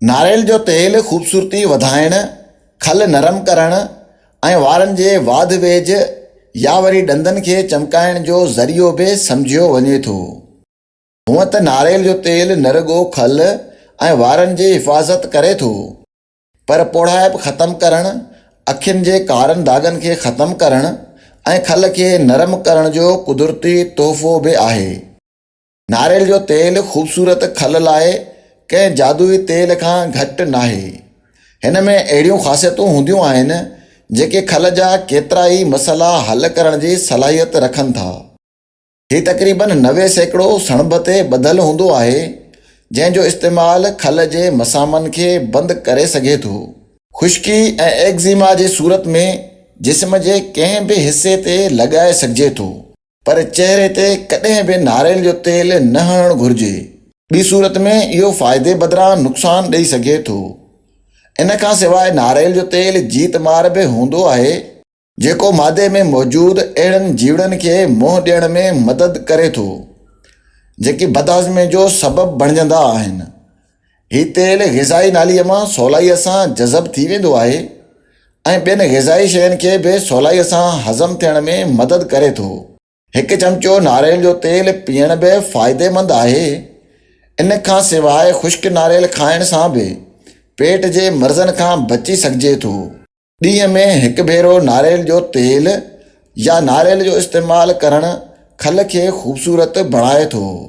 ناريل جو تيل خوبصورتي وڌائڻ، کل نرم ڪرڻ ۽ وارن جي واڌ ويجهه يا وري ڏندن کي چمڪائڻ جو ذريعو به سمجهيو وڃي ٿو. هونئن ته ناريل جو تيل نه رڳو کل ۽ وارن جي حفاظت ڪري ٿو، پر پوڙهائپ ختم ڪرڻ، اکين جي ڪارن داغن کي ختم ڪرڻ ۽ کل کي نرم ڪرڻ جو قدرتي تحفو به آهي. ناريل جو تيل خوبصورت کل لاء ڪنهن جادوئي تيل کان گهٽ ناهي. هن ۾ اهڙيون خاصيتون هونديون آهن جيڪي کل جا ڪيترا ئي مسئلا حل ڪرڻ جي صلاحيت رکن ٿا. هي تقريباً نوي سيڪڙو سڻڀ تي ٻڌل هوندو آهي جنهن جو استعمال کل جي مسامن کي بند ڪري سگهي ٿو. خشڪي ۽ ايڪزيما جي صورت ۾ جسم جي ڪنهن به حصي تي لڳائي سگهجي ٿو. پر چهري تي ڪڏهن به ناريل جو تيل نه هڻڻ گهرجي. ٻي صورت ۾ اهو فائدي بدران نقصان ڏئي سگهي ٿو. ان کان سواء ناريل جو تيل جيت مار به هوندو آهي، جيڪو معدي ۾ موجود اهڙن جيوڙن کي منهن ڏيڻ ۾ مدد ڪري ٿو جيڪي بدهاضمي جو سبب بڻجندا آهن هي تيل غذائي ناليء مان سولائيء سان جذب ٿي ويندو آهي ۽ ٻين غذائي شين کي به سولائيء سان هضم ٿيڻ ۾ مدد ڪري ٿو. هڪ چمچو ناريل جو تيل پيئڻ به فائديمند آهي. ان کان سواء خشڪ ناريل کائڻ سان به پيٽ جي مرضن کان بچي سگهجي ٿو. ڏينهن ۾ هڪ ڀيرو ناريل جو تيل يا ناريل جو استعمال ڪرڻ کل کي خوبصورت بڻائي ٿو.